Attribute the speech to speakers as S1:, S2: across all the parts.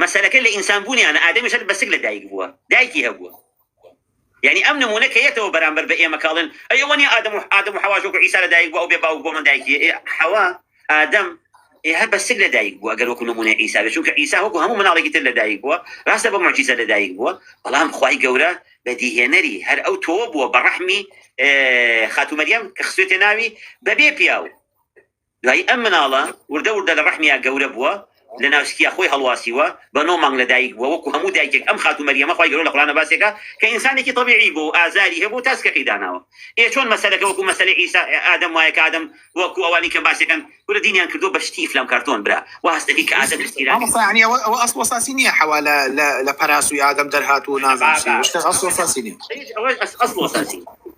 S1: مەسەلەکە لە ئینسان بوونیانە ئادەمیش هەر بە سک لە دایک بووە دایکی هەبووە یانی ئەم نموونە کە یەتەوە بەرامبەر بە ئێمە کاڵێن ئەی ئەوە نیە ئادەم و ئادەم و حەواش وەکو عیسا لە دایک بووە ئەو بێ باوک بۆ من دایکی ئێ حەوا ئادەم ئێ هەر بە سک لە دایک بووە گەر وەکو نموونە عیسا بێت چونکە عیسا وەکو هەموو مناڵێکی تر لە دایک بووە راستە بە معجیزە لە دایک بووە بەڵام خوای گەورە بەدیهێنەری هەر ئەو تۆوە بووە بە ڕەحمی خاتوو مەریەم کە خسوێتێ ناوی بەبێ پیاو دوایی ئەم مناڵە وردە وردە لە ڕەحمیا گەورە بووە لە ناوسکیا خۆی هەڵواسیوە بە نۆ مانگ لە دایک بووە وەکو هەموو دایکێک ئەم خاتوو مەریەمە خوای گەورە لە قورئانا باسێکا کە ئینسانێکی تەبیعی بوو و ئازاری هەبوو تا سکەکەی داناوە ئێ چۆن مەسەلەکە وەکو مەسەلەی عیسی ئادەم وایە کە ئادەم وەکو ئەوانی کە باسێکەن کورە دینیان کردووە بە شتی ئیفلام کارتۆن برا وا هەست دەکەی کە ئادەم ئیسیرا کرد. مامۆستا یانی ئەوە ئەوە
S2: ئەسڵ ئەساسی نیە حەوا لە لە لە پەراسوی ئادەم دەرهاتوو و نازانم چی ئەوە شتە ئەسڵ ئەساسی
S1: نیە. ئەوە ئەسڵ ئەساسی.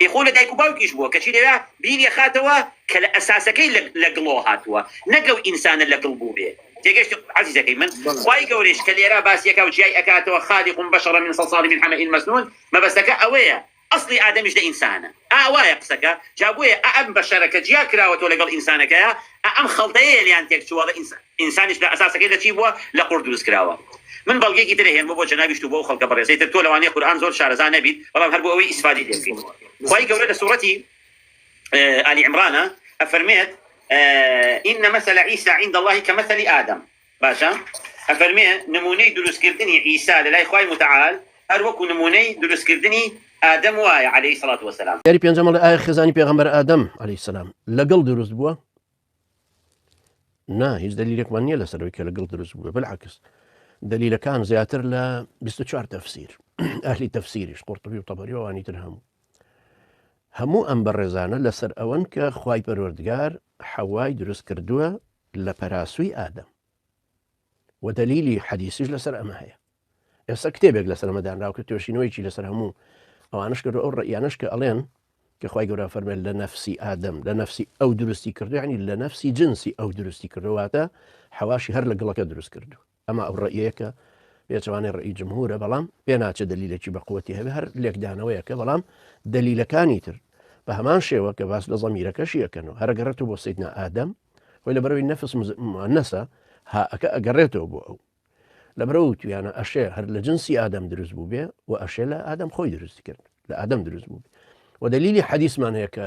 S1: ئێ خۆ لە دایک و باوکیش بووە کەچی دەیا بیری ئەخاتەوە کە لە ئەساسەکەی لە گڵۆ هاتووە نەک لەو ئینسانە لە گڵ بووبێ تێگەشتی عەزیزەکەی من خوای گەورەیش کە لێرا باسی یەکا و جیای ئەکاتەوە خالق بشر من صلصال من حمئ مسنون مەبەستەکە ئەوەیە ئەسڵی ئادەمیش لە ئینسانە ئا وایە قسەکە جا بۆیە ئا ئەم بەشەرە کە جیا کراوەتەوە لەگەڵ ئینسانەکەیا ئا ئەم خەڵتەیەیە لێیان تێک چووە بە ئینسان ئینسانیش لە ئەساسەکەی لە چی بووە لە قوڕ دروست کراوە من بەڵگەیەکی تر ئەهێنمەوە بۆ جەنابیشت و بۆ ئەو خەڵکە بەڕێزەی تر تۆ لەوانەیە قورئان زۆر شارەزا نەبیت بەڵام هەر بۆ ئەوەی ئیسفادەی لێ بکەیت خوای گەورە لە سوڕەتی آل عمران ئەفەرمێت ان مثل عیسی عند الله کمثل آدم باشە ئەفەرمێ نمونەی دروست کردنی عیسا لەلای خوای متعال هەر وەکو نمونەی دروست کردنی ئادەم وایە علیە الصلوة والسلام. جاری پێنجەم ئەڵێ ئایا خێزانی
S3: پێغەمبەر ئادەم علیە السلام لەگڵ دروست بووە؟ نا هیچ دەلیلێکمان نییە لەسەر ئەوی کە لەگڵ دروست بووە بلعکس دەلیلەکان زیاتر لە 24 تەفسیر ئەهلی تەفسیریش قورتبی و تەبەری وانی تر هەموو هەموو ئەم بەڕێزانە لەسەر ئەوەن کە خی پەروەردگار حەوای دروست کردووە لە پەراسوی ئادەم وە دەلیلی حەدیسیش لەسەر ئەمە هەیە ئێستا کتێبێک لەسەر ئەمە دانراو کە توێشینەوەیکی لەسەر هەموو ئەوانش کرد ئەو ڕیانش کە ئەڵێن کە خی گەورە فەرمێن لە نفسی ئادەم لە نفسی ئەو دروستی کردوانی لە نفسی جنسی ئەو دروستی کردواتە حەواشی هەر لە گڵەکە دروست کردو ئەمە ئەو ڕەئیەیە کە پێچەوانەی ڕەئی جمهورە بەڵام پێناچێ دەلیلێکی بەقوەتی هەبێ هەر لێکدانەوەیەکە بەڵام دەلیلەکانی تر بە هەمان شێوە کە باس لە زەمیرەکەشی یەکەن و هەرگەڕێت و بۆ سیدنا ئادەم خۆی لە بەرەوەی نەفس نەسە هاەکە ئەگەڕێتەوە بۆ ئەو لە برە و تویانە ئەشێ هەر لە جنسی ئادەم دروست بوو بێ و ئەشێ لە ئادەم خۆی دروست کرد لە ئادەم دروست بوو و دلیلی حەدیسمان هەیە کە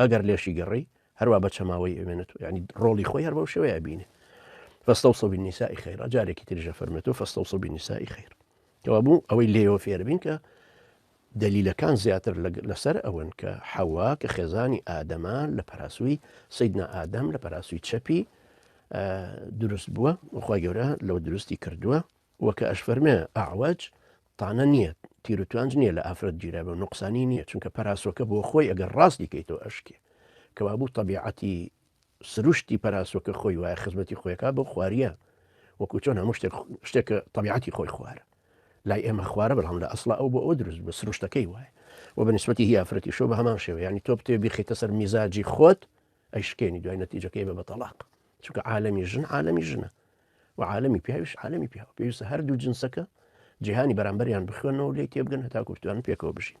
S3: ئەگەر لێشی گەڕی هەروا بە چەماوەی ئەوێنێت و یعنی ڕۆڵی خۆی هەر بەو شێوەیە بینێ فاستوصوا بالنساء خيرا جارێکی تریژە فەرمێت و فاستوصوا بالنساء خير کەوا بوو ئەوەی لێەوە فێربین کە دەلیلەکان زیاتر لەسەر ئەوەن کە حەوا کە خێزانی ئادەما لە پەراسووی سیدنا ئادەم لە پەراسووی چەپی دروست بووە وخوای گەورە لەوە دروستی کردووە وەکە ئەش فەرمێ ئاواج تانە نیە تیرو توانج نیە لە ئافرەت گیرابێ و نوقسانی نیە چونکە پەراسۆکە بۆ خۆی ئەگەر ڕاستی کەیتەوە ئەشکێ کەوابوو تەبیعەتی سروشتی پەراسۆکە خۆی وایە خزمەتی خۆیکا بۆ خواریە وەکو چۆن هەموو شتێک شتێکە تەبیعەتی خۆی خوارە لای ئێمە خوارە بەڵام لە ئەسڵ ئەو بۆ ئەو دروست بە سروشتەکەی وایە و بە نسبەتی هی ئافرەتی شۆ بە هەمان شێوە ینی تۆ بتێ بیخیتە سەر میزاجی خۆت ئەیشکێنی دوای نەتیجەکەی بە بە تەلاق چونکە عالمی ژن عالمی ژنە و عالەمی پیاویش عالەمی پیاوە پێویستە هەردوو جنسەکە جیهانی بەرامبەریان بخوێنەوە لێ تێبگەن هەتاکوتوان پێکەوە بژین